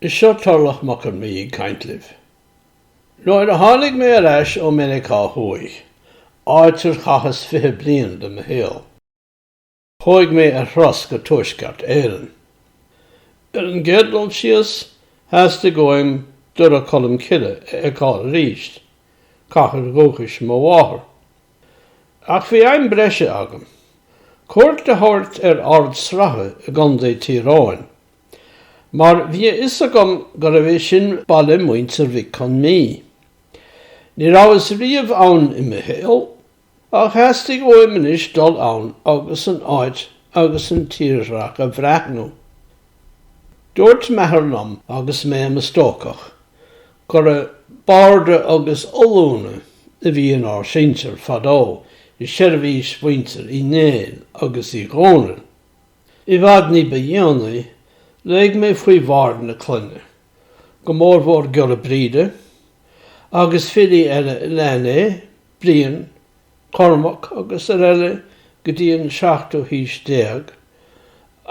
Is seo Turlach Mac Con Mí ag caint libh. Nuair a tháinig mé ar ais ó Meiriceá Thuaidh, áit ar chaitheas fiche bliain de mo shaol, Chuaigh mé ar thuras go Tuaisceart Éireann. Ar an gcéad dul síos, theastaigh uaim Doire Cholm Cille a fheiceáil arís, cathair dhúchais mo mháthar. Ach bhí aidhm bhreise agam, cuairt a thabhairt ar Ard Sratha i gContae Thír Eoghain, mar bhí a fhios agam gurbh é sin baile mhuintir Mhic Con Mí. Ní rabhas riamh ann i mo shaol, Ach theastaigh uaim anois dul ann agus an áit agus an tírdhreach a bhreathnú. Dúirt m'athair liom agus mé i mo stócach gurbh iad barda agus ollúna a bhí in ár sinsir fadó i seirbhís mhuintir Uí Néill agus Uí Dhónaill. I bhfad ní ba dhéanaí, léigh mé faoi bhaird na clainne, go mór mór Giolla Bríde, agus filí eile a lean é, Brian, Cormac agus araile go dtí an seachtú haois déag,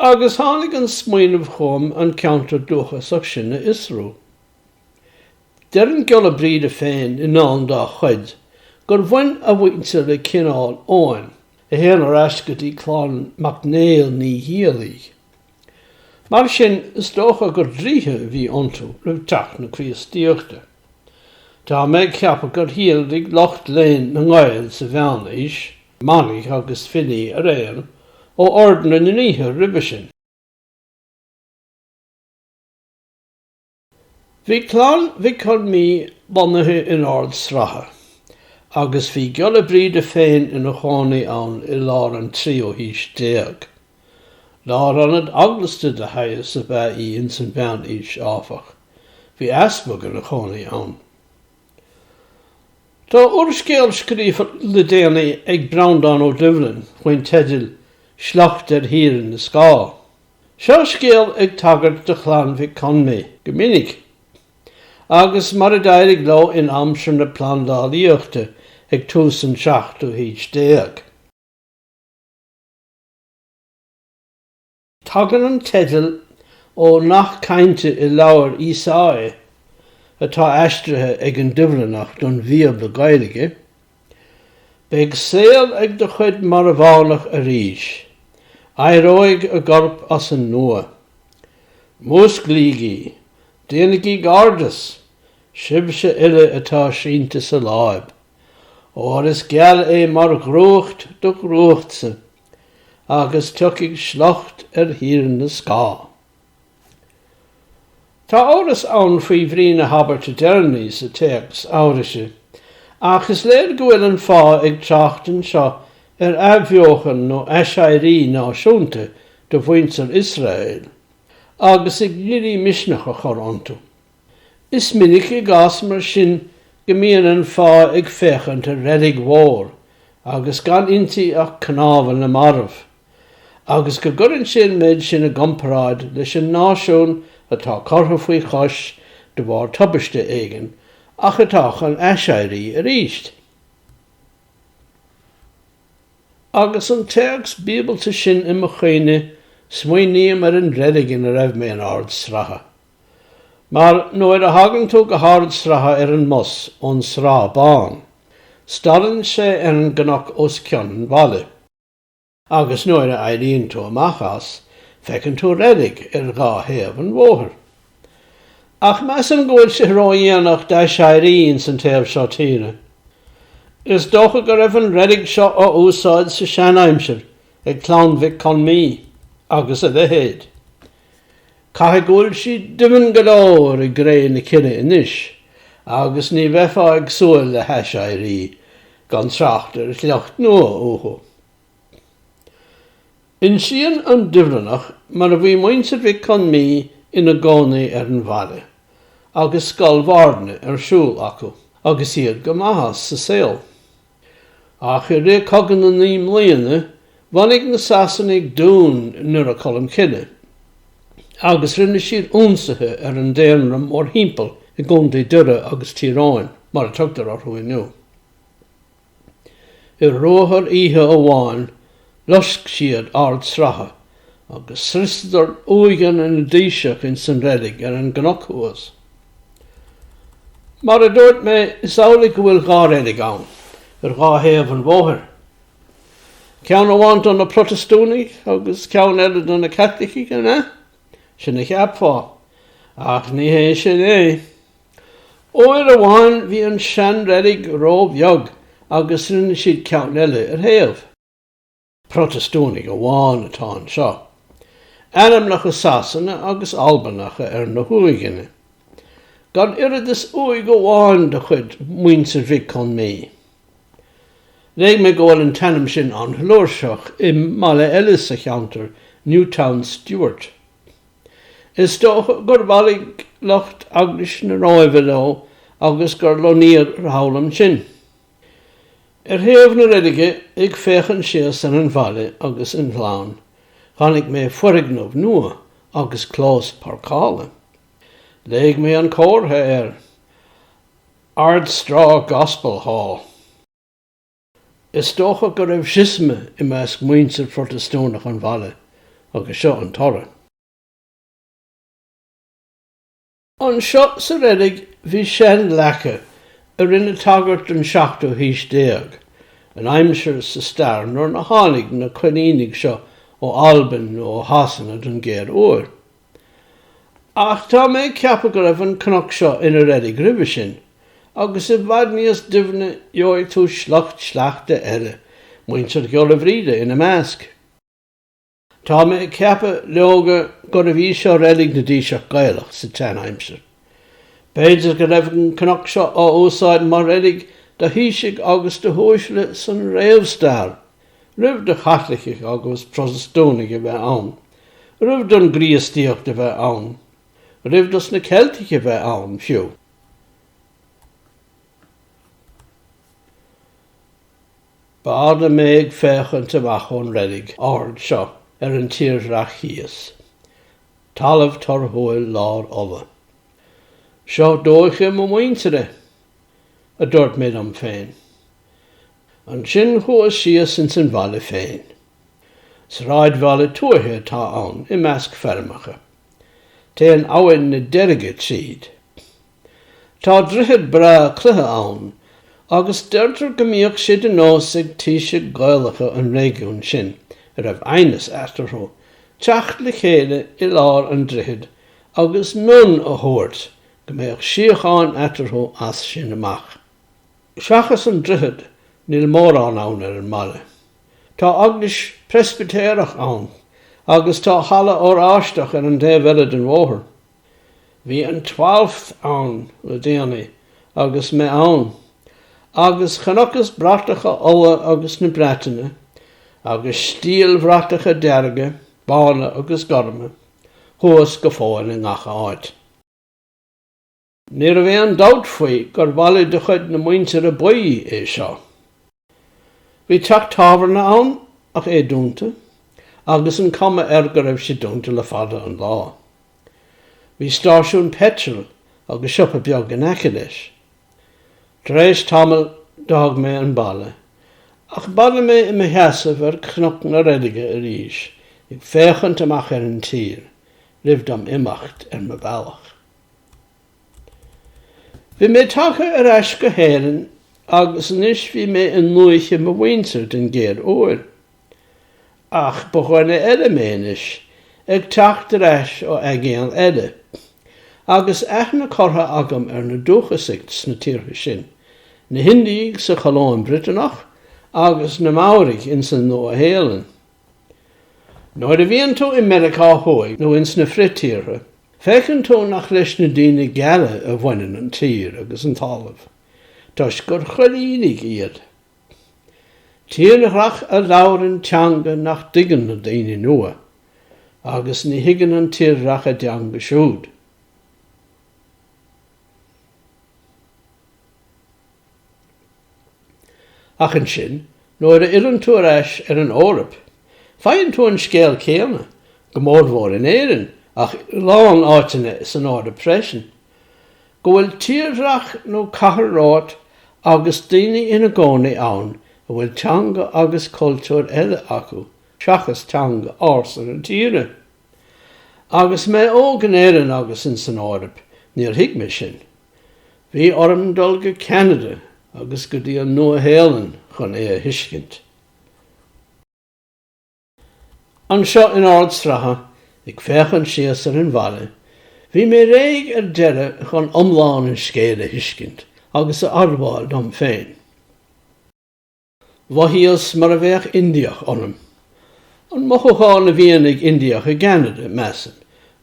agus tháinig an smaoineamh chugam an ceantar dúchasach sin a fhiosrú. Deir an Giolla Bríde féin i ndán dá chuid gur bhain a mhuintir le Cineál Eoghain. a théann ar ais go dtí clann mac Néill Naoighiallaigh. Mar sin, is dócha gur draoithe a bhí iontu roimh teacht na Críostaíochta. Tá mé ag ceapadh gur shíolraigh lucht léinn na nGael sa Mheánaois, manaigh agus filí araon, ó Ord na nDraoithe roimhe sin. Bhí clann Mhic Con Mí lonnaithe in Ard Sratha, agus bhí Giolla Bríde féin ina chónaí ann i lár an tríú haois déag. Lárionad eaglasta de shaghas ab ea í ins an Mheánaois, áfach. Bhí easpag ina chónaí ann. Tá úrscéal scríofa le déanaí ag Breandán Ó Doibhlin faoin teideal Sliocht ar Thír na Scáth. Sa scéal tá tagairt do Chlann Mhic Con Mí go minic, agus mar a d'éirigh leo in aimsir na plandálaíochta ag tús an tseachtú haois déag. Tagann an teideal ó nath cainte i leabhar Ísáia, atá aistrithe ag an Doibhlineach don Bhíobla Gaeilge, Beidh saol ag do chuid marbhánach arís. Éireoidh a gcorp as an nua. Músclaígí! Déanaigí gairdeas! Sibhse uile atá sínte sa láib. Óir is geal é mar dhrúcht do dhrúchtsa, agus tiocfaidh sliocht ar Thír na Scáth. Tá amhras ann faoi bhrí na habairte deireanaí sa téacs Eabhraise, ach is léir go bhfuil an fáidh ag trácht anseo ar athbheochan nó aiséirí náisiúnta do mhuintir Iosrael, agus ag iarraidh misneach a chur iontu. Is minic i gcás mar sin go mbíonn an fáidh ag féachaint ar reilig mhór agus gan inti ach cnámha na marbh. agus go gcuireann sé an méid sin i gcomparáid leis an náisiún atá curtha faoi chois de bharr tubaiste éigin ach atá chun aiséirí arís. Agus an téacs bíobalta sin i mo chuimhne, smaoiním ar an reilig ina raibh mé in Ard Sratha. Mar nuair a thagann tú go hArd Sratha ar an mbus ón Srath Bán, stadann sé ar an gcnoc os cionn an bhaile. Agus nuair a éiríonn tú amach as, feiceann tú reilig ar dhá thaobh an bhóthair. Ach measaim go bhfuil sé ródhéanach d'aiséirí ins an taobh seo tíre. Is dócha go raibh an reilig seo á úsáid sa seanaimsir ag Clann Mhic Con Mí agus a leithéid. Caithfidh go bhfuil sí doimhin go leor i gcré na cille anois agus ní bheifeá ag súil le haiséirí, gan trácht ar shliocht nua, uathu. Insíonn an Doibhlineach mar a bhí muintir Mhic Con Mí ina gcónaí ar an bhaile, agus scoil bhairdne ar siúl acu agus iad go maith as sa saol. Ach i rith Cogadh na Naoi mBliana, bhunaigh na Sasanaigh dún i nDoire Colmcille, agus rinne siad ionsaithe ar an daonra mórthimpeall i gContae Dhoire agus Tír Eoghain, mar a tugtar orthu inniu. I ruathar oíche amháin, loisc siad Ard Sratha agus scriosadar uaigheanna na dtaoiseach ins an reilig ar an gcnoc thuas. Mar a dúirt mé, is amhlaidh go bhfuil dhá reilig ann ar dhá thaobh an bhóthair, ceann amháin do na Protastúnaigh agus ceann eile do na Caitlicigh, an ea? Sin a cheapfá, ach ní hé sin é. Uair amháin bhí an seanreilig ró-bheag agus rinne siad ceann eile ar thaobh. Protastúnaigh amháin atá anseo. Ainmneacha Sasanacha agus Albanacha ar na huaigheanna. Gan oiread is uaigh amháin de chuid Mhuintir Mhic Con Mí. Léigh mé go bhfuil an t-ainm sin an-fhlúirseach i mbaile eile sa cheantar, Newtownstewart. Is dócha gur bhailigh lucht Eaglais na Róimhe leo agus gur lonnaíodh thall ansin. Ar thaobh na reilige, ag féachaint síos ar an bhaile agus an gleann, chonaic mé foirgneamh nua agus clós páirceála. Léigh mé an comhartha air, Ardstraw Gospel Hall. Is dócha go raibh siosma i measc muintir Phrotastúnach an bhaile agus seo an toradh. Anseo sa reilig bhí seanleaca a rinne tagairt don seachtú haois déag, an aimsir sa stair nuair a tháinig na coilínigh seo ó Albain nó ó Shasana don gcéad uair. Ach tá mé ag ceapadh go raibh an cnoc seo ina reilig roimhe sin, agus i bhfad níos doimhne gheobhaidh tú sliocht sleachta eile, Muintir Ghiolla Bhríde ina measc. Tá mé ag ceapadh, leoga, gurbh í seo reilig na dtaoiseach Gaelach sa tseanaimsir. B'fhéidir go raibh an cnoc seo á úsáid mar reilig do thaoisigh agus do huaisle san réamhstair! Roimh do Chaitlicigh agus Protastúnaigh a bheith ann, roimh don gCríostaíocht a bheith ann, roimh dos na Ceiltigh a bheith ann, fiú, b'fhada mé ag féachaint amach ón reilig ard seo ar an tírdhreach thíos. Talamh torthúil lár Uladh. Seo dúiche mo mhuintire, a dúirt mé liom féin. Ansin chuas síos ins an bhaile féin. Sráidbhaile tuaithe atá ann, i measc feirmeacha. Téann abhainn na Deirge tríd. Tá droichead breá cloiche ann, agus deirtear go mbíodh sé de nós ag taoisigh Ghaelacha an réigiúin sin, a raibh aighneas eatarthu, teacht le chéile i lár an droichid agus mionn a thabhairt go mbeadh síocháin eatarthu as sin amach. Seachas an droichead, níl mórán ann ar an mbaile. Tá eaglais Preispitéireach ann agus tá halla Oráisteach ar an taobh eile den bhóthar. Bhí an Twelfth ann le déanaí agus mé ann, agus chonacthas bratacha Uladh agus na Breataine, agus stiallbhratacha dearga, bána agus gorma, thuas go fóill i ngach áit. Ní raibh aon dabht faoi gur bhaile de chuid na Muintire Buí é seo. Bhí teach tábhairne ann ach é dúnta agus an cuma air go raibh sé dúnta le fada an lá. Bhí stáisiún peitril agus siopa beag in aice leis. Tar éis tamaill d'fhág mé an baile agus bhailigh mé i mo sheasamh ar Chnoc na Reilige arís ag féachaint amach ar an tír roimh dom imeacht ar mo bhealach. Bhí mé tagtha ar ais go hÉirinn agus anois bhí mé i ndúiche mo mhuintir den gcéad uair. Ach ba dhuine eile mé anois, ag teacht ar ais ó aigéan eile, agus aithne curtha agam ar na dúchasaigh sna tíortha sin, na hIndiaigh sa Cholóim Bhriotanach agus na Maoraigh ins an Nua-Shéalainn. Nuair a bhíonn tú i Meiriceá Thuaidh nó ins na Frith-Tíortha, feiceann tú nach leis na daoine geala a bhaineann an tír agus an talamh, toisc gur choilínigh iad. Tírdhreach a labhrann teanga nach dtuigeann na daoine nua, agus ní thuigeann an tírdhreach a dteanga siúd. Ach ansin, nuair a fhilleann tú ar ais ar an Eoraip, faigheann tú an scéal céanna, go mórmhór in Éirinn ach a lán áiteanna san Eoraip freisin, go bhfuil tírdhreach nó cathair romhat agus daoine ina gcónaí ann a bhfuil teanga agus cultúr eile acu seachas teanga ársa na tíre. Agus mé óg in Éirinn agus insan Eoraip, níor thuig mé sin. Bhí orm dul go Ceanada agus go dtí an Nua-Shéalainn chun é a thuiscint. Anseo in Ard Sratha, ag féachaint síos ar an bhaile, bhí mé réidh ar deireadh chun iomlán an scéil a thuiscint agus a admháil dom féin. Mhothaíos mar a bheadh Indiach ionam. An mothúchán a bhíonn ag Indiach i gCeanada, measaim,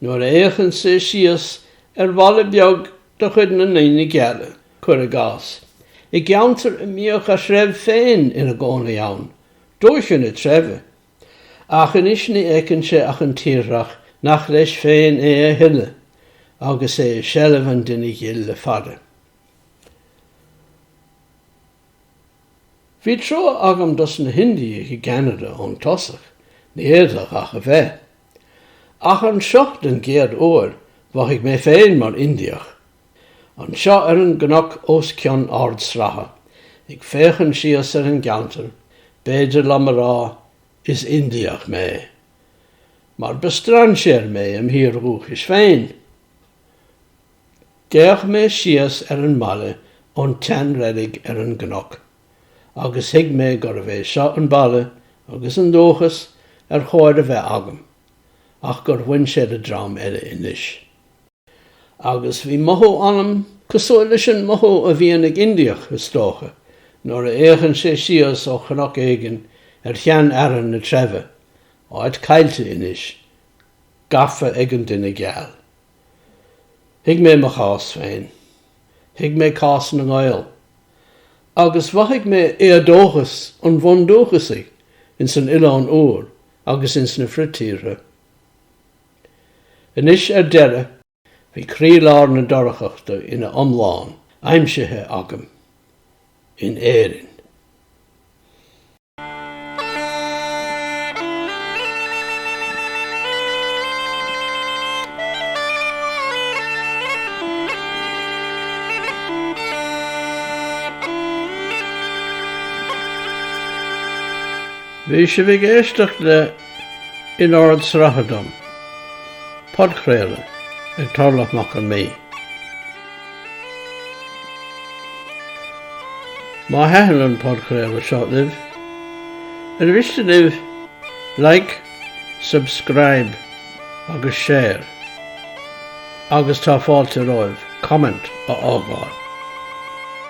nuair a fhéachann sé síos ar bhaile beag de chuid na ndaoine geala, cuir i gcás, i gceantar a mbíodh a threibh féin ina gcónaí ann, dúiche na treibhe. Ach anois ní fheiceann sé ach an tírdhreach nach leis féin é a thuilleadh, agus é i seilbh an duine ghil le fada. Bhí trua agam dos na hIndiaigh i gCeanada ón tosach, ní fhéadfadh ach a bheith. Ach anseo den gcéad uair mhothaigh mé féin mar Indiach. Anseo ar an gcnoc os cionn Ard Sratha, ag féachaint síos ar an gceantar, b'fhéidir liom a rá, is Indiach mé. Mar ba strainséir mé im thír dhúchais féin. D'fhéach mé síos ar an mbaile ón tseanreilig ar an gcnoc, agus thuig mé gurbh é seo an baile agus an dúchas ar chóir a bheith agam, ach gur bhain sé le dream eile anois. Agus bhí mothú ionam, cosúil leis an mothú a bhíonn ag Indiach, is dócha, nuair a fhéachann sé síos ó chnoc éigin ar sheanfhearann na treibhe, áit caillte anois, gafa ag an duine geal. Thuig mé mo chás féin. Thuig mé cás na nGael. Agus mhothaigh mé éadóchas an bhundúchasaigh ins an Oileán Úr agus ins na fritíortha. Anois ar deireadh bhí croílár na dorchachta ina iomlán aimsithe agam. In Éirinn. Bhí sibh ag éisteacht le In Ord Sraithe Dom, podchraoladh ag Torlach Mac Con Midhe. Má thaitin an podchraoladh seo libh, ar mhiste libh like, subscribe agus share agus tá fáilte romhaibh comment a fhágáil.